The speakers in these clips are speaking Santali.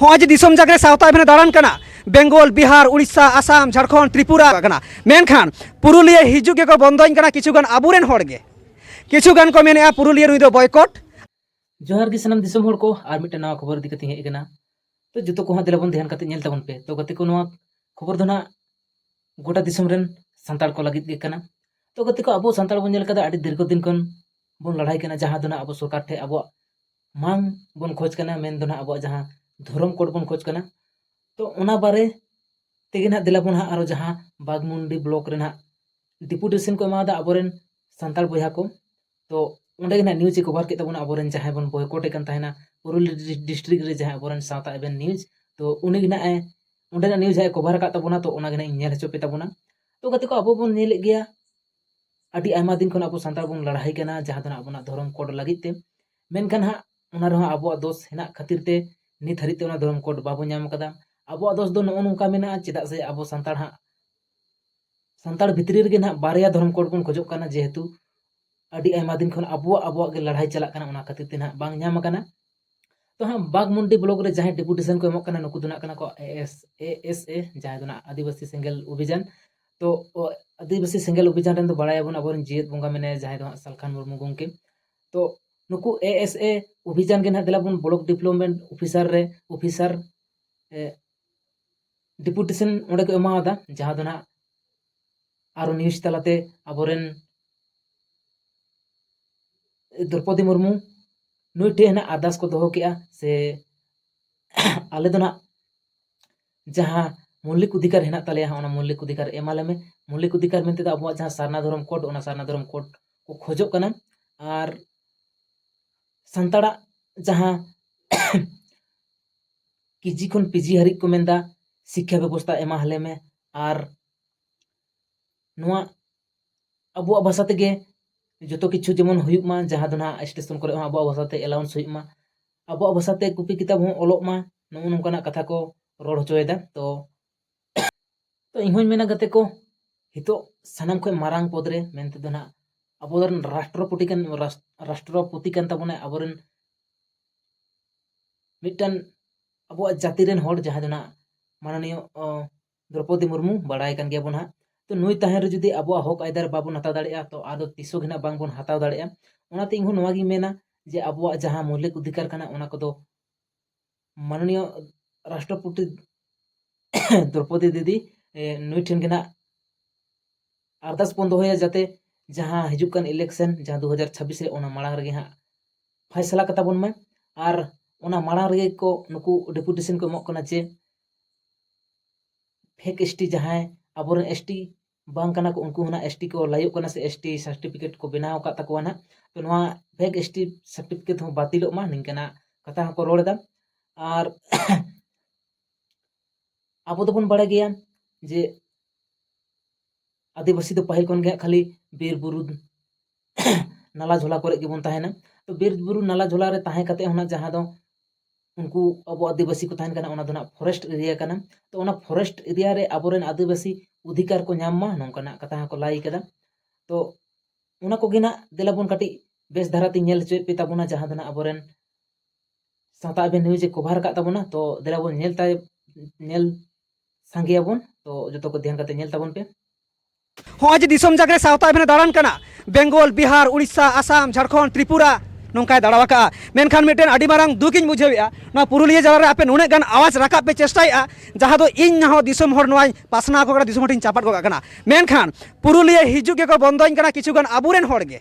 ᱦᱚᱸᱜᱼᱚᱭ ᱡᱮ ᱫᱤᱥᱚᱢ ᱡᱟᱜᱨᱮ ᱥᱟᱶᱛᱟ ᱮᱵᱷᱮᱱᱮ ᱫᱟᱬᱟᱱ ᱠᱟᱱᱟ ᱵᱮᱝᱜᱚᱞ ᱵᱤᱦᱟᱨ ᱩᱲᱤᱥᱥᱟ ᱟᱥᱟᱢ ᱡᱷᱟᱲᱠᱷᱚᱸᱰ ᱛᱨᱤᱯᱩᱨᱟ ᱠᱟᱱᱟ ᱢᱮᱱᱠᱷᱟᱱ ᱯᱩᱨᱩᱞᱤᱭᱟᱹ ᱦᱤᱡᱩᱜ ᱜᱮᱠᱚ ᱵᱚᱱᱫᱚᱧ ᱠᱟᱱᱟ ᱠᱤᱪᱷᱩ ᱜᱟᱱ ᱟᱵᱚᱨᱮᱱ ᱦᱚᱲ ᱜᱮ ᱠᱤᱪᱷᱩ ᱜᱟᱱ ᱠᱚ ᱢᱮᱱᱮᱜᱼᱟ ᱯᱩᱨᱩᱞᱤᱭᱟᱹ ᱱᱩᱭ ᱫᱚ ᱵᱚᱭᱠᱚᱴ ᱡᱚᱦᱟᱨ ᱜᱮ ᱥᱟᱱᱟᱢ ᱫᱤᱥᱚᱢ ᱦᱚᱲ ᱠᱚ ᱟᱨ ᱢᱤᱫᱴᱮᱱ ᱱᱟᱣᱟ ᱠᱷᱚᱵᱚᱨ ᱤᱫᱤ ᱠᱟᱛᱮ ᱦᱮᱡ ᱟᱠᱟᱱᱟ ᱛᱚ ᱡᱚᱛᱚ ᱠᱚ ᱦᱟᱸᱜ ᱫᱮᱞᱟ ᱵᱚᱱ ᱫᱷᱮᱭᱟᱱ ᱠᱟᱛᱮ ᱧᱮᱞ ᱛᱟᱵᱚᱱ ᱯᱮ ᱛᱚ ᱜᱟᱛᱮ ᱠᱚ ᱱᱚᱣᱟ ᱠᱷᱚᱵᱚᱨ ᱫᱚ ᱱᱟᱜ ᱜᱚᱴᱟ ᱫᱤᱥᱚᱢ ᱨᱮᱱ ᱥᱟᱱᱛᱟᱲ ᱠᱚ ᱞᱟᱹᱜᱤᱫ ᱜᱮ ᱠᱟᱱᱟ ᱛᱚ ᱜᱟᱛᱮ ᱠᱚ ᱟᱵᱚ ᱥᱟᱱᱛᱟᱲ ᱵᱚᱱ ᱧᱮᱞ ᱠᱟᱫᱟ ᱟᱹᱰᱤ ᱫᱤᱨᱜᱷᱚ ᱫᱤᱱ ᱠᱷᱚᱱ ᱵᱚᱱ ᱞᱟᱲᱟᱭ ᱠᱟᱱᱟ ᱡᱟᱦᱟᱸ ᱫᱚ ᱱᱟᱜ ᱟᱵᱚ ᱥᱚᱨᱠᱟᱨ ᱴᱷᱮᱡ ᱟᱵᱚᱣᱟᱜ ᱢᱟᱹᱱ ᱵᱚᱱ ᱠᱷᱚᱡᱽ ᱠᱟᱱᱟ ᱢᱮᱱ ᱫᱚ ᱦᱟᱸᱜ ᱟᱵᱚᱣᱟᱜ ᱡᱟᱦᱟᱸ ᱫᱷᱚᱨᱚᱢ ᱠᱳᱰ ᱵᱚᱱ ᱠᱷᱚᱡᱽ ᱠᱟᱱᱟ ᱛᱚ ᱚᱱᱟ ᱵᱟᱨᱮ ᱛᱮᱜᱮ ᱦᱟᱸᱜ ᱫᱮᱞᱟ ᱵᱚᱱ ᱦᱟᱸᱜ ᱟᱨᱚ ᱡᱟᱦᱟᱸ ᱵᱟᱜᱽᱢᱩᱱᱰᱤ ᱵᱞᱚᱠ ᱨᱮ ᱦᱟᱸᱜ ᱰᱮᱯᱩᱴᱮᱥᱮᱱ ᱠᱚ ᱮᱢᱟᱣᱟᱫᱟ ᱟᱵᱚ ᱨᱮᱱ ᱥᱟᱱᱛᱟᱲ ᱵᱚᱭᱦᱟ ᱠᱚ ᱛᱚ ᱚᱸᱰᱮ ᱜᱮ ᱦᱟᱸᱜ ᱱᱤᱭᱩᱡᱽ ᱮ ᱠᱚᱵᱷᱟᱨ ᱠᱮᱫ ᱛᱟᱵᱚᱱᱟ ᱟᱵᱚ ᱨᱮᱱ ᱡᱟᱦᱟᱸᱭ ᱵᱚᱱ ᱵᱚᱭᱠᱚᱴᱮ ᱠᱟᱱ ᱛᱟᱦᱮᱱᱟ ᱯᱩᱨᱩᱞᱤᱭᱟᱹ ᱰᱤᱥᱴᱨᱤᱠ ᱨᱮ ᱡᱟᱦᱟᱸᱭ ᱟᱵᱚ ᱨᱮᱱ ᱥᱟᱶᱛᱟ ᱮᱵᱷᱮᱱ ᱱᱤᱭᱩᱡᱽ ᱛᱚ ᱩᱱᱤ ᱜᱮ ᱦᱟᱸᱜ ᱮ ᱚᱸᱰᱮᱱᱟᱜ ᱱᱤᱭᱩᱡᱽ ᱦᱟᱸᱜ ᱮ ᱠᱚᱵᱷᱟᱨ ᱟᱠᱟᱫ ᱛᱟᱵᱚᱱᱟ ᱛᱚ ᱚᱱᱟ ᱜᱮ ᱦᱟᱸᱜ ᱤᱧ ᱧᱮᱞ ᱦᱚᱪᱚ ᱯᱮ ᱛᱟᱵᱚᱱᱟ ᱛᱚ ᱜᱟᱛᱮ ᱠᱚ ᱟᱵᱚ ᱵᱚᱱ ᱧᱮᱞᱮᱫ ᱜᱮᱭᱟ ᱟᱹᱰᱤ ᱟᱭᱢᱟ ᱫᱤᱱ ᱠᱷᱚᱱ ᱟᱵᱚ ᱥᱟᱱᱛᱟᱲ ᱵᱚᱱ ᱞᱟᱹᱲᱦᱟᱹᱭ ᱠᱟᱱᱟ ᱡᱟᱦᱟᱸ ᱫᱚ ᱟᱵᱚᱱᱟᱜ ᱫᱷᱚᱨᱚᱢ ᱠᱳᱰ ᱞᱟᱹᱜᱤᱫ ᱛᱮ ᱢᱮᱱᱠᱷᱟᱱ ᱦᱟᱸᱜ ᱚᱱᱟ ᱨᱮᱦᱚᱸ ᱟᱵᱚᱣᱟᱜ ᱫᱳᱥ ᱦᱮᱱᱟᱜ ᱠᱷᱟᱹᱛᱤᱨ ᱛᱮ ᱱᱤᱛ ᱦᱟᱹᱨᱤᱡ ᱛᱮ ᱚᱱᱟ ᱫᱷᱚᱨᱚᱢ ᱠᱳᱰ ᱵᱟᱵᱚ ᱧᱟᱢ ᱠᱟᱫᱟ ᱟᱵᱚᱣᱟᱜ ᱫᱳᱥ ᱫᱚ ᱱᱚᱜᱼᱚ ᱱᱚᱝᱠᱟ ᱢᱮᱱᱟᱜᱼᱟ ᱪᱮᱫᱟᱜ ᱥᱮ ᱟᱵᱚ ᱥᱟᱱᱛᱟᱲ ᱦᱟᱸᱜ ᱥᱟᱱᱛᱟᱲ ᱵᱷᱤᱛᱨᱤ ᱨᱮᱜᱮ ᱱᱟᱦᱟᱜ ᱵᱟᱨᱭᱟ ᱫᱷᱚᱨᱚᱢ ᱠᱳᱰ ᱵᱚᱱ ᱠᱷᱚᱡᱚᱜ ᱠᱟᱱᱟ ᱡᱮᱦᱮᱛᱩ ᱟᱹᱰᱤ ᱟᱭᱢᱟ ᱫᱤᱱ ᱠᱷᱚᱱ ᱟᱵᱚᱣᱟᱜ ᱟᱵᱚᱣᱟᱜ ᱜᱮ ᱞᱟᱹᱲᱦᱟᱹᱭ ᱪᱟᱞᱟᱜ ᱠᱟᱱᱟ ᱚᱱᱟ ᱠᱷᱟᱹᱛᱤᱨ ᱛᱮ ᱱᱟᱦᱟᱜ ᱵᱟᱝ ᱧᱟᱢ ᱟᱠᱟᱱᱟ ᱛᱚ ᱦᱟᱸᱜ ᱵᱟᱜᱽᱢᱩᱱᱰᱤ ᱵᱞᱚᱠ ᱨᱮ ᱡᱟᱦᱟᱸᱭ ᱰᱮᱯᱩᱴᱮᱥᱚᱱ ᱠᱚ ᱮᱢᱚᱜ ᱠᱟᱱᱟ ᱱᱩᱠᱩ ᱫᱚ ᱱᱟᱜ ᱠᱟᱱᱟ ᱠᱚ ᱮᱥ ᱮ ᱮᱥ ᱮ ᱡᱟᱦᱟᱸᱭ ᱫᱚ ᱱᱟᱜ ᱟᱹᱫᱤᱵᱟᱹᱥᱤ ᱥᱮᱸᱜᱮᱞ ᱚᱵᱷᱤᱡᱟᱱ ᱛᱚ ᱟᱹᱫᱤᱵᱟᱹᱥᱤ ᱥᱮᱸᱜᱮᱞ ᱚᱵᱷᱤᱡᱟᱱ ᱨᱮᱱ ᱫᱚ ᱵᱟᱲᱟᱭᱟᱵᱚᱱ ᱟᱵᱚᱨᱮᱱ ᱡᱤᱭᱟᱹᱛ ᱵᱚᱸᱜᱟ ᱢᱮᱱᱟᱭᱟ ᱡᱟᱦᱟᱸᱭ ᱫᱚ ᱦᱟᱸᱜ ᱥᱟᱞᱠᱷᱟᱱ ᱢᱩᱨᱢᱩ ᱜᱚᱢᱠᱮ ᱛᱚ ᱱᱩᱠᱩ ᱮ ᱮᱥ ᱮ ᱚᱵᱷᱤᱡᱟᱱ ᱜᱮ ᱱᱟᱜ ᱫᱮᱞᱟᱵᱚᱱ ᱵᱞᱚᱠ ᱰᱮᱵᱷᱞᱚᱯᱢᱮᱱᱴ ᱚᱯᱷᱤᱥᱟᱨ ᱨᱮ ᱚᱯᱷᱤᱥᱟᱨ ᱰᱮᱯᱩᱴᱮᱥᱚᱱ ᱚᱸᱰᱮ ᱠᱚ ᱮᱢᱟᱣᱟᱫᱟ ᱡᱟᱦᱟᱸ ᱫᱚ ᱱᱟᱜ ᱟᱨᱚ ᱱᱤᱭᱩᱡᱽ ᱛᱟᱞᱟᱛᱮ ᱟᱵᱚᱨᱮᱱ ᱫᱨᱳᱯᱚᱫᱤ ᱢᱩᱨᱢᱩ ᱱᱩᱭ ᱴᱷᱮᱱ ᱦᱟᱸᱜ ᱟᱨᱫᱟᱥ ᱠᱚ ᱫᱚᱦᱚ ᱠᱮᱜᱼᱟ ᱥᱮ ᱟᱞᱮ ᱫᱚ ᱱᱟᱜ ᱡᱟᱦᱟᱸ ᱢᱚᱞᱞᱤᱠ ᱚᱫᱷᱤᱠᱟᱨ ᱦᱮᱱᱟᱜ ᱛᱟᱞᱮᱭᱟ ᱚᱱᱟ ᱢᱚᱞᱞᱤᱠ ᱚᱫᱷᱤᱠᱟᱨ ᱮᱢᱟᱞᱮ ᱢᱮ ᱢᱚᱞᱞᱤᱠ ᱚᱫᱷᱤᱠᱟᱨ ᱢᱮᱱᱛᱮ ᱫᱚ ᱟᱵᱚᱣᱟᱜ ᱡᱟᱦᱟᱸ ᱥᱟᱨᱱᱟ ᱫᱷᱚᱨᱚᱢ ᱠᱳᱰ ᱚᱱᱟ ᱥᱟᱨᱱᱟ ᱫᱷᱚᱨᱚᱢ ᱠᱳᱰ ᱠᱚ ᱠᱷᱚᱡᱚᱜ ᱠᱟᱱᱟ ᱟᱨ ᱥᱟᱱᱛᱟᱲᱟᱜ ᱡᱟᱦᱟᱸ ᱠᱮᱡᱤ ᱠᱷᱚᱱ ᱯᱤᱡᱤ ᱦᱟᱹᱨᱤᱡ ᱠᱚ ᱢᱮᱱᱫᱟ ᱥᱤᱠᱠᱷᱟ ᱵᱮᱵᱚᱥᱛᱟ ᱮᱢᱟ ᱦᱟᱞᱮ ᱢᱮ ᱟᱨ ᱱᱚᱣᱟ ᱟᱵᱚᱣᱟᱜ ᱵᱷᱟᱥᱟ ᱛᱮᱜᱮ ᱡᱚᱛᱚ ᱠᱤᱪᱷᱩ ᱡᱮᱢᱚᱱ ᱦᱩᱭᱩᱜ ᱢᱟ ᱡᱟᱦᱟᱸ ᱫᱚ ᱱᱟᱦᱟᱜ ᱥᱴᱮᱥᱚᱱ ᱠᱚᱨᱮ ᱦᱚᱸ ᱟᱵᱚᱣᱟᱜ ᱵᱷᱟᱥᱟᱛᱮ ᱮᱞᱟᱣᱩᱱᱥ ᱦᱩᱭᱩᱜ ᱢᱟ ᱟᱵᱚᱣᱟᱜ ᱵᱷᱟᱥᱟᱛᱮ ᱠᱚᱯᱤ ᱠᱤᱛᱟᱹᱵ ᱦᱚᱸ ᱚᱞᱚᱜ ᱢᱟ ᱱᱚᱜᱼᱚ ᱱᱚᱝᱠᱟᱱᱟᱜ ᱠᱟᱛᱷᱟ ᱠᱚ ᱨᱚᱲ ᱦᱚᱪᱚᱭᱮᱫᱟ ᱛᱚ ᱛᱚ ᱤᱧ ᱦᱚᱸᱧ ᱢᱮᱱᱟ ᱜᱟᱛᱮ ᱠᱚ ᱱᱤᱛᱚᱜ ᱥᱟᱱᱟᱢ ᱠᱷᱚᱱ ᱢᱟᱨᱟᱝ ᱯᱚᱫᱽ ᱨᱮ ᱢᱮᱱ ᱛᱮᱫᱚ ᱱᱟᱦᱟᱜ ᱟᱵᱚᱨᱮᱱ ᱨᱟᱥᱴᱨᱚᱯᱚᱛᱤ ᱠᱟᱱ ᱨᱟᱥᱴᱨᱚᱯᱚᱛᱤ ᱠᱟᱱ ᱛᱟᱵᱚᱱᱟᱭ ᱟᱵᱚᱨᱮᱱ ᱢᱤᱫᱴᱟᱝ ᱟᱵᱚᱣᱟᱜ ᱡᱟᱹᱛᱤ ᱨᱮᱱ ᱦᱚᱲ ᱡᱟᱦᱟᱸᱭ ᱫᱚ ᱱᱟᱦᱟᱜ ᱢᱟᱱᱚᱱᱤᱭᱚ ᱫᱨᱳᱯᱚᱫᱤ ᱢᱩᱨᱢᱩ ᱵᱟᱲᱟᱭ ᱠᱟᱱ ᱜᱮᱭᱟᱵᱚᱱ ᱱᱟᱦᱟᱜ ᱛᱚ ᱱᱩᱭ ᱛᱟᱦᱮᱱ ᱨᱮ ᱡᱩᱫᱤ ᱟᱵᱚᱣᱟᱜ ᱦᱚᱠ ᱟᱹᱭᱫᱟᱹᱨ ᱵᱟᱵᱚᱱ ᱦᱟᱛᱟᱣ ᱫᱟᱲᱮᱭᱟᱜᱼᱟ ᱛᱚ ᱟᱫᱚ ᱛᱤᱥ ᱦᱚᱸ ᱜᱮ ᱱᱟᱦᱟᱜ ᱵᱟᱝᱵᱚᱱ ᱦᱟᱛᱟᱣ ᱫᱟᱲᱮᱭᱟᱜᱼᱟ ᱚᱱᱟᱛᱮ ᱤᱧᱦᱚᱸ ᱱᱚᱣᱟᱜᱤᱧ ᱢᱮᱱᱟ ᱡᱮ ᱟᱵᱚᱣᱟᱜ ᱡᱟᱦᱟᱸ ᱢᱳᱣᱞᱤᱠ ᱚᱫᱷᱤᱠᱟᱨ ᱠᱟᱱᱟ ᱚᱱᱟ ᱠᱚᱫᱚ ᱢᱟᱱᱚᱱᱤᱭᱚ ᱨᱟᱥᱴᱨᱚᱯᱚᱛᱤ ᱫᱨᱳᱯᱚᱫᱤ ᱫᱤᱫᱤ ᱱᱩᱭ ᱴᱷᱮᱱ ᱜᱮ ᱱᱟᱦᱟᱜ ᱟᱨᱫᱟᱥ ᱵᱚᱱ ᱫᱚᱦᱚᱭᱟ ᱡᱟᱛᱮ ᱡᱟᱦᱟᱸ ᱦᱤᱡᱩᱜ ᱠᱟᱱ ᱤᱞᱮᱠᱥᱮᱱ ᱡᱟᱦᱟᱸ ᱫᱩ ᱦᱟᱡᱟᱨ ᱪᱷᱟᱵᱽᱵᱤᱥ ᱨᱮ ᱚᱱᱟ ᱢᱟᱲᱟᱝ ᱨᱮᱜᱮ ᱦᱟᱸᱜ ᱯᱷᱟᱭᱥᱟᱞᱟ ᱠᱟᱛᱟ ᱵᱚᱱ ᱢᱟᱭ ᱟᱨ ᱚᱱᱟ ᱢᱟᱲᱟᱝ ᱨᱮᱜᱮ ᱠᱚ ᱱᱩᱠᱩ ᱰᱮᱯᱩᱴᱮᱥᱚᱱ ᱠᱚ ᱮᱢᱚᱜ ᱠᱟᱱᱟ ᱡᱮ ᱯᱷᱮᱠ ᱮᱥ ᱴᱤ ᱡᱟᱦᱟᱸᱭ ᱟᱵᱚᱨᱮᱱ ᱮᱥ ᱴᱤ ᱵᱟᱝ ᱠᱟᱱᱟ ᱠᱚ ᱩᱱᱠᱩ ᱦᱚᱸ ᱮᱥ ᱴᱤ ᱠᱚ ᱞᱟᱹᱭᱚᱜ ᱠᱟᱱᱟ ᱥᱮ ᱮᱥ ᱴᱤ ᱥᱟᱨᱴᱤᱯᱷᱤᱠᱮᱴ ᱠᱚ ᱵᱮᱱᱟᱣ ᱟᱠᱟᱫ ᱛᱟᱠᱚᱣᱟ ᱱᱟᱜ ᱛᱚ ᱱᱚᱣᱟ ᱯᱷᱮᱠ ᱮᱥ ᱴᱤ ᱥᱟᱨᱴᱤᱯᱷᱤᱠᱮᱴ ᱦᱚᱸ ᱵᱟᱹᱛᱤᱞᱚᱜ ᱢᱟ ᱱᱤᱝᱠᱟᱱᱟᱜ ᱠᱟᱛᱷᱟ ᱦᱚᱸᱠᱚ ᱨᱚᱲ ᱮᱫᱟ ᱟᱨ ᱟᱵᱚ ᱫᱚᱵᱚᱱ ᱵᱟᱲᱟᱭ ᱜᱮᱭᱟ ᱡᱮ ᱟᱹᱫᱤᱵᱟᱹᱥᱤ ᱫᱚ ᱯᱟᱹᱦᱤᱞ ᱠᱷᱚᱱ ᱜᱮ ᱦᱟᱸᱜ ᱠᱷᱟᱹᱞᱤ ᱵᱤᱨ ᱵᱩᱨᱩ ᱱᱟᱞᱟ ᱡᱷᱚᱞᱟ ᱠᱚᱨᱮ ᱜᱮᱵᱚᱱ ᱛᱟᱦᱮᱱᱟ ᱛᱚ ᱵᱤᱨ ᱵᱩᱨᱩ ᱱᱟᱞᱟ ᱡᱷᱚᱞᱟ ᱨᱮ ᱛᱟᱦᱮᱸ ᱠᱟᱛᱮ ᱦᱚᱸ ᱱᱟᱜ ᱡᱟᱦᱟᱸ ᱫᱚ ᱩᱱᱠᱩ ᱟᱵᱚ ᱟᱹᱫᱤᱵᱟᱹᱥᱤ ᱠᱚ ᱛᱟᱦᱮᱱ ᱠᱟᱱᱟ ᱚᱱᱟ ᱫᱚ ᱱᱟᱜ ᱯᱷᱚᱨᱮᱥᱴ ᱮᱨᱤᱭᱟ ᱠᱟᱱᱟ ᱛᱚ ᱚᱱᱟ ᱯᱷᱚᱨᱮᱥᱴ ᱮᱨᱤᱭᱟ ᱨᱮ ᱟᱵᱚᱨᱮᱱ ᱟᱹᱫᱤᱵᱟᱹᱥᱤ ᱚᱫᱷᱤᱠᱟᱨ ᱠᱚ ᱧᱟᱢ ᱢᱟ ᱱᱚᱝᱠᱟᱱᱟᱜ ᱠᱟᱛᱷᱟ ᱦᱚᱸᱠᱚ ᱞᱟᱹᱭ ᱠᱟᱫᱟ ᱛᱚ ᱚᱱᱟ ᱠᱚᱜᱮ ᱱᱟᱜ ᱫᱮᱞᱟ ᱵᱚᱱ ᱠᱟᱹᱴᱤᱡ ᱵᱮᱥ ᱫᱷᱟᱨᱟᱛᱮ ᱧᱮᱞ ᱦᱚᱪᱚᱭᱮᱫ ᱯᱮ ᱛᱟᱵᱚᱱᱟ ᱡᱟᱦᱟᱸ ᱫᱚ ᱱᱟᱜ ᱟᱵᱚᱨᱮᱱ ᱥᱟᱶᱛᱟ ᱟᱵᱮᱱ ᱱᱤᱭᱩᱡᱮ ᱠᱚᱵᱷᱟᱨ ᱟᱠᱟᱫ ᱛᱟᱵᱚᱱᱟ ᱛᱚ ᱫᱮᱞᱟ ᱵᱚᱱ ᱧᱮᱞ ᱛᱟᱭ ᱧᱮᱞ ᱥᱟᱸᱜᱮᱭᱟᱵᱚᱱ ᱛᱚ ᱡᱚᱛᱚ ᱠᱚ ᱫᱷᱮᱭᱟᱱ ᱠᱟᱛᱮ ᱧᱮᱞ ᱛᱟᱵᱚᱱ ᱯᱮ ᱦᱚᱸᱜᱼᱚᱭ ᱡᱮ ᱫᱤᱥᱚᱢ ᱡᱟᱜᱽᱨᱮ ᱥᱟᱶᱛᱟ ᱟᱵᱮᱱᱮ ᱫᱟᱬᱟᱱ ᱠᱟᱱᱟ ᱵᱮᱝᱜᱚᱞ ᱵᱤᱦᱟᱨ ᱩᱲᱤᱥᱥᱟ ᱟᱥᱟᱢ ᱡᱷᱟᱲᱠᱷᱚᱸᱰ ᱛᱨᱤᱯᱩᱨᱟ ᱱᱚᱝᱠᱟᱭ ᱫᱟᱬᱟ ᱟᱠᱟᱫᱼᱟ ᱢᱮᱱᱠᱷᱟᱱ ᱢᱤᱫᱴᱮᱱ ᱟᱹᱰᱤ ᱢᱟᱨᱟᱝ ᱫᱩᱠ ᱤᱧ ᱵᱩᱡᱷᱟᱹᱣᱮᱫᱼᱟ ᱱᱚᱣᱟ ᱯᱩᱨᱩᱞᱤᱭᱟᱹ ᱡᱮᱞᱟ ᱨᱮ ᱟᱯᱮ ᱱᱩᱱᱟᱹᱜ ᱜᱟᱱ ᱟᱣᱟᱡᱽ ᱨᱟᱠᱟᱵ ᱯᱮ ᱪᱮᱥᱴᱟᱭᱮᱫᱼᱟ ᱡᱟᱦᱟᱸ ᱫᱚ ᱤᱧ ᱦᱚᱸ ᱫᱤᱥᱚᱢ ᱦᱚᱲ ᱱᱚᱣᱟᱧ ᱯᱟᱥᱱᱟᱣ ᱟᱠᱚ ᱠᱟᱱᱟ ᱫᱤᱥᱚᱢ ᱦᱚᱲ ᱴᱷᱮᱱᱤᱧ ᱪᱟᱯᱟᱫ ᱜᱚᱫ ᱠᱟᱜ ᱠᱟᱱᱟ ᱢᱮᱱᱠᱷᱟᱱ ᱯᱩᱨᱩᱞᱤᱭᱟᱹ ᱦᱤᱡᱩᱜ ᱜᱮᱠᱚ ᱵᱚᱱᱫᱚᱧ ᱠᱟᱱᱟ ᱠᱤᱪᱷᱩ ᱜᱟᱱ ᱟᱵᱚᱨᱮᱱ ᱦᱚᱲ ᱜᱮ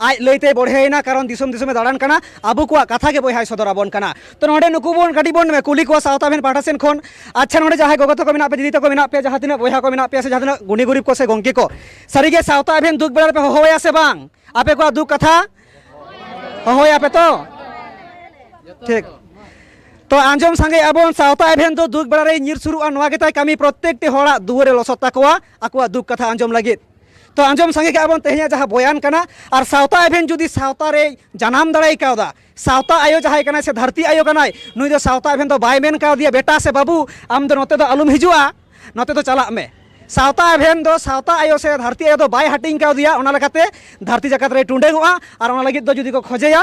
ᱟᱡ ᱞᱟᱹᱭᱛᱮ ᱵᱚᱲᱦᱮᱭᱮᱱᱟ ᱠᱟᱨᱚᱱ ᱫᱤᱥᱚᱢ ᱫᱤᱥᱚᱢᱮ ᱫᱟᱬᱟᱱ ᱠᱟᱱᱟ ᱟᱵᱚ ᱠᱚᱣᱟᱜ ᱠᱟᱛᱷᱟ ᱜᱮ ᱵᱚᱭᱦᱟᱭ ᱥᱚᱫᱚᱨ ᱟᱵᱚᱱ ᱠᱟᱱᱟ ᱛᱚ ᱱᱚᱰᱮ ᱱᱩᱠᱩ ᱵᱚᱱ ᱠᱟᱹᱴᱤᱡ ᱵᱚᱱ ᱠᱩᱞᱤ ᱠᱚᱣᱟ ᱥᱟᱶᱛᱟ ᱵᱷᱮᱱ ᱯᱟᱦᱴᱟ ᱥᱮᱱ ᱠᱷᱚᱱ ᱟᱪᱪᱷᱟ ᱱᱚᱰᱮ ᱡᱟᱦᱟᱸᱭ ᱜᱚᱜᱚ ᱛᱟᱠᱚ ᱢᱮᱱᱟᱜ ᱯᱮ ᱫᱤᱫᱤ ᱛᱟᱠᱚ ᱢᱮᱱᱟᱜ ᱯᱮ ᱡᱟᱦᱟᱸ ᱛᱤᱱᱟᱹᱜ ᱵᱚᱭᱦᱟ ᱠᱚ ᱢᱮᱱᱟᱜ ᱯᱮᱭᱟ ᱥᱮ ᱡᱟᱦᱟᱸ ᱛᱤᱱᱟᱹᱜ ᱜᱩᱱᱤ ᱜᱩᱨᱤᱵ ᱠᱚ ᱥᱮ ᱜᱚᱝᱠᱮ ᱠᱚ ᱥᱟᱹᱨᱤᱜᱮ ᱥᱟᱶᱛᱟ ᱵᱷᱮᱱ ᱫᱩᱠ ᱵᱮᱲᱟ ᱨᱮᱯᱮ ᱦᱚᱦᱚᱭᱟ ᱥᱮ ᱵᱟᱝ ᱟᱯᱮ ᱠᱚᱣᱟᱜ ᱫᱩᱠ ᱠᱟᱛᱷᱟ ᱦᱚᱦᱚᱭᱟᱯᱮ ᱛᱚ ᱴᱷᱤᱠ ᱛᱚ ᱟᱸᱡᱚᱢ ᱥᱟᱸᱜᱮ ᱟᱵᱚᱱ ᱥᱟᱶᱛᱟ ᱮᱵᱷᱮᱱ ᱫᱚ ᱫᱩᱠ ᱵᱮᱲᱟ ᱨᱮ ᱧᱤᱨ ᱥᱩᱨᱩᱜᱼᱟ ᱱᱚᱣᱟ ᱜᱮᱛᱟᱭ ᱠᱟᱹᱢᱤ ᱯᱨᱚᱛᱛᱮᱠᱴᱤ ᱦᱚᱲᱟᱜ ᱫᱩᱣᱟᱹᱨᱮ ᱞᱚᱥᱚᱫ ᱛᱟᱠᱚᱣᱟ ᱟᱠᱚᱣᱟᱜ ᱫᱩᱠ ᱠᱟᱛᱷᱟ ᱟᱸᱡᱚᱢ ᱞᱟᱹᱜᱤᱫ ᱛᱚ ᱟᱸᱡᱚᱢ ᱥᱟᱸᱜᱮ ᱠᱟᱜᱼᱟ ᱵᱚᱱ ᱛᱮᱦᱮᱧᱟᱜ ᱡᱟᱦᱟᱸ ᱵᱚᱭᱟᱱ ᱠᱟᱱᱟ ᱟᱨ ᱥᱟᱶᱛᱟ ᱮᱵᱷᱮᱱ ᱡᱩᱫᱤ ᱥᱟᱶᱛᱟ ᱨᱮ ᱡᱟᱱᱟᱢ ᱫᱟᱲᱮ ᱠᱟᱣᱫᱟ ᱥᱟᱶᱛᱟ ᱟᱭᱳ ᱡᱟᱦᱟᱸᱭ ᱠᱟᱱᱟᱭ ᱥᱮ ᱫᱷᱟᱹᱨᱛᱤ ᱟᱭᱳ ᱠᱟᱱᱟᱭ ᱱᱩᱭ ᱫᱚ ᱥᱟᱶᱛᱟ ᱮᱵᱷᱮᱱ ᱫᱚ ᱵᱟᱭ ᱢᱮᱱ ᱠᱟᱣᱫᱮᱭᱟ ᱵᱮᱴᱟ ᱥᱮ ᱵᱟᱹᱵᱩ ᱟᱢ ᱫᱚ ᱱᱚᱛᱮ ᱫᱚ ᱟᱞᱚᱢ ᱦᱤᱡᱩᱜᱼᱟ ᱱᱚᱛᱮ ᱫᱚ ᱪᱟᱞᱟᱜ ᱢᱮ ᱥᱟᱶᱛᱟ ᱮᱵᱷᱮᱱ ᱫᱚ ᱥᱟᱶᱛᱟ ᱟᱭᱳ ᱥᱮ ᱫᱷᱟᱹᱨᱛᱤ ᱟᱭᱳ ᱫᱚ ᱵᱟᱭ ᱦᱟᱹᱴᱤᱧ ᱠᱟᱣᱫᱮᱭᱟ ᱚᱱᱟ ᱞᱮᱠᱟᱛᱮ ᱫᱷᱟᱹᱨᱛᱤ ᱡᱟᱠᱟᱛ ᱨᱮᱭ ᱴᱩᱸᱰᱟᱹᱝᱚᱜᱼᱟ ᱟᱨ ᱚᱱᱟ ᱞᱟᱹᱜᱤᱫ ᱫᱚ ᱡᱩᱫᱤ ᱠᱚ ᱠᱷᱚᱡᱮᱭᱟ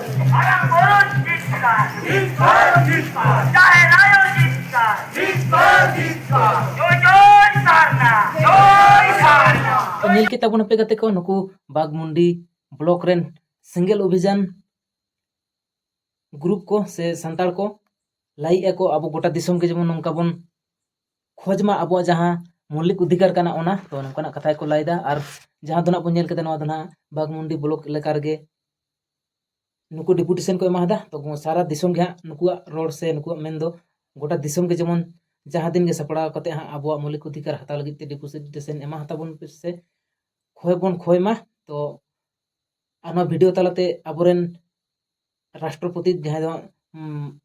ᱧᱮᱞ ᱠᱮᱫ ᱛᱟᱵᱚᱱ ᱟᱯᱮ ᱜᱟᱛᱮ ᱠᱚ ᱱᱩᱠᱩ ᱵᱟᱜᱽᱢᱩᱱᱰᱤ ᱵᱞᱚᱠ ᱨᱮᱱ ᱥᱮᱸᱜᱮᱞ ᱚᱵᱷᱤᱡᱟᱱ ᱜᱨᱩᱯ ᱠᱚ ᱥᱮ ᱥᱟᱱᱛᱟᱲ ᱠᱚ ᱞᱟᱹᱭᱮᱫ ᱟᱠᱚ ᱟᱵᱚ ᱜᱚᱴᱟ ᱫᱤᱥᱚᱢ ᱜᱮ ᱡᱮᱢᱚᱱ ᱱᱚᱝᱠᱟ ᱵᱚᱱ ᱠᱷᱚᱡᱽ ᱢᱟ ᱟᱵᱚᱣᱟᱜ ᱡᱟᱦᱟᱸ ᱢᱚᱞᱤᱠ ᱚᱫᱷᱤᱠᱟᱨ ᱠᱟᱱᱟ ᱚᱱᱟ ᱛᱚ ᱱᱚᱝᱠᱟᱱᱟᱜ ᱠᱟᱛᱷᱟ ᱜᱮᱠᱚ ᱞᱟᱹᱭᱫᱟ ᱟᱨ ᱡᱟᱦᱟᱸ ᱫᱚ ᱱᱟᱜ ᱵᱚᱱ ᱧᱮᱞ ᱠᱮᱫᱟ ᱱᱚᱣᱟ ᱫᱚ ᱱᱟᱜ ᱵᱟᱜᱽᱢᱩᱱᱰᱤ ᱵᱞᱚᱠ ᱮᱞᱟᱠᱟ ᱨᱮᱜᱮ ᱱᱩᱠᱩ ᱰᱮᱯᱩᱴᱮᱥᱚᱱ ᱠᱚ ᱮᱢᱟᱫᱟ ᱛᱚ ᱥᱟᱨᱟ ᱫᱤᱥᱚᱢ ᱜᱮ ᱦᱟᱸᱜ ᱱᱩᱠᱩᱣᱟᱜ ᱨᱚᱲ ᱥᱮ ᱱᱩᱠᱩᱣᱟᱜ ᱢᱮᱱ ᱫᱚ ᱜᱚᱴᱟ ᱫᱤᱥᱚᱢ ᱜᱮ ᱡᱮᱢᱚᱱ ᱡᱟᱦᱟᱸ ᱫᱤᱱ ᱜᱮ ᱥᱟᱯᱲᱟᱣ ᱠᱟᱛᱮ ᱦᱟᱸᱜ ᱟᱵᱚᱣᱟᱜ ᱢᱳᱣᱞᱤᱠ ᱚᱫᱷᱤᱠᱟᱨ ᱦᱟᱛᱟᱣ ᱞᱟᱹᱜᱤᱫ ᱛᱮ ᱰᱮᱯᱩᱴᱮᱥᱚᱱ ᱮᱢᱟ ᱦᱟᱛᱟᱵᱚᱱ ᱯᱮ ᱥᱮ ᱠᱷᱚᱭ ᱵᱚᱱ ᱠᱷᱚᱭ ᱢᱟ ᱛᱚ ᱟᱨ ᱱᱚᱣᱟ ᱵᱷᱤᱰᱤᱭᱳ ᱛᱟᱞᱟᱛᱮ ᱟᱵᱚᱨᱮᱱ ᱨᱟᱥᱴᱨᱚᱯᱚᱛᱤ ᱡᱟᱦᱟᱸᱭ ᱫᱚ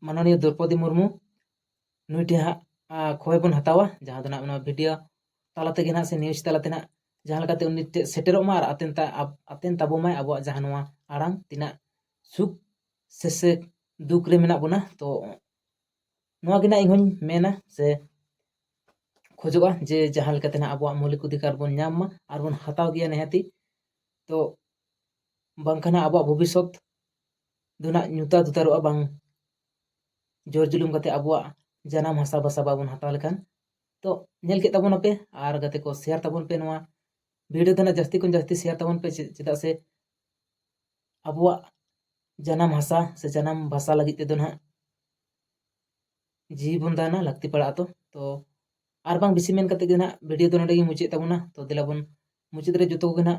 ᱢᱟᱱᱚᱱᱤᱭᱚ ᱫᱨᱳᱣᱯᱚᱫᱤ ᱢᱩᱨᱢᱩ ᱱᱩᱭ ᱴᱷᱮᱱ ᱦᱟᱸᱜ ᱠᱷᱚᱵᱚᱨ ᱵᱚᱱ ᱦᱟᱛᱟᱣᱟ ᱡᱟᱦᱟᱸ ᱫᱚ ᱱᱟᱦᱟᱜ ᱱᱚᱣᱟ ᱵᱷᱤᱰᱤᱭᱳ ᱛᱟᱞᱟ ᱛᱮᱜᱮ ᱱᱟᱦᱟᱜ ᱥᱮ ᱱᱤᱭᱩᱡᱽ ᱛᱟᱞᱟ ᱛᱮ ᱱᱟᱦᱟᱜ ᱡᱟᱦᱟᱸ ᱞᱮᱠᱟᱛᱮ ᱩᱱᱤ ᱴᱷᱮᱱ ᱥᱮᱴᱮᱨᱚᱜ ᱢᱟ ᱟᱨ ᱟᱛᱮᱱ ᱟᱛᱮᱱ ᱛᱟᱵᱚᱱ ᱢᱟᱭ ᱟᱵᱚᱣᱟᱜ ᱡᱟᱦᱟᱸ ᱱᱚᱣᱟ ᱟᱲᱟᱝ ᱛᱤᱱᱟᱹᱜ ᱥᱩᱠ ᱥᱮ ᱥᱮ ᱫᱩᱠ ᱨᱮ ᱢᱮᱱᱟᱜ ᱵᱚᱱᱟ ᱛᱚ ᱱᱚᱣᱟ ᱜᱮ ᱱᱟᱦᱟᱜ ᱤᱧ ᱦᱚᱧ ᱢᱮᱱᱟ ᱥᱮ ᱠᱷᱚᱡᱚᱜᱼᱟ ᱡᱮ ᱡᱟᱦᱟᱸ ᱞᱮᱠᱟᱛᱮ ᱱᱟᱦᱟᱜ ᱟᱵᱚᱣᱟᱜ ᱢᱳᱣᱞᱤᱠ ᱚᱫᱷᱤᱠᱟᱨ ᱵᱚᱱ ᱧᱟᱢ ᱢᱟ ᱟᱨ ᱵᱚᱱ ᱦᱟᱛᱟᱣ ᱜᱮᱭᱟ ᱱᱤᱦᱟᱹᱛᱤ ᱛᱚ ᱵᱟᱝᱠᱷᱟᱱ ᱟᱵᱚᱣᱟᱜ ᱵᱷᱚᱵᱤᱥᱥᱚᱛ ᱫᱚ ᱱᱟᱦᱟᱜ ᱧᱩᱛᱟᱹᱛ ᱩᱛᱟᱹᱨᱚᱜᱼᱟ ᱵᱟᱝ ᱡᱳᱨ ᱡᱩᱞᱩᱢ ᱠᱟᱛᱮ ᱟᱵᱚᱣᱟᱜ ᱡᱟᱱᱟᱢ ᱦᱟᱥᱟ ᱵᱷᱟᱥᱟ ᱵᱟᱵᱚᱱ ᱦᱟᱛᱟᱣ ᱞᱮᱠᱷᱟᱱ ᱛᱚ ᱧᱮᱞ ᱠᱮᱫ ᱛᱟᱵᱚᱱᱟᱯᱮ ᱟᱨ ᱜᱟᱛᱮ ᱠᱚ ᱥᱮᱭᱟᱨ ᱛᱟᱵᱚᱱ ᱯᱮ ᱱᱚᱣᱟ ᱵᱷᱤᱰᱤᱭᱳ ᱫᱚ ᱱᱟᱜ ᱡᱟᱹᱥᱛᱤ ᱠᱷᱚᱱ ᱡᱟᱹᱥᱛᱤ ᱥᱮᱭᱟᱨ ᱛᱟᱵᱚᱱ ᱯᱮ ᱪᱮᱫᱟᱜ ᱥᱮ ᱟᱵᱚᱣᱟᱜ ᱡᱟᱱᱟᱢ ᱦᱟᱥᱟ ᱥᱮ ᱡᱟᱱᱟᱢ ᱵᱷᱟᱥᱟ ᱞᱟᱹᱜᱤᱫ ᱛᱮᱫᱚ ᱱᱟᱜ ᱡᱤᱣᱤ ᱵᱚᱱ ᱫᱟᱱᱟ ᱞᱟᱹᱠᱛᱤ ᱯᱟᱲᱟᱜᱼᱟ ᱛᱚ ᱛᱚ ᱟᱨ ᱵᱟᱝ ᱵᱮᱥᱤ ᱢᱮᱱ ᱠᱟᱛᱮ ᱜᱮ ᱱᱟᱜ ᱵᱷᱤᱰᱤᱭᱳ ᱫᱚ ᱱᱚᱰᱮ ᱜᱮ ᱢᱩᱪᱟᱹᱫ ᱛᱟᱵᱚᱱᱟ ᱛᱚ ᱫᱮᱞᱟ ᱵᱚᱱ ᱢᱩᱪᱟᱹᱫ ᱨᱮ ᱡᱚᱛᱚ ᱠᱚᱜᱮ ᱱᱟᱜ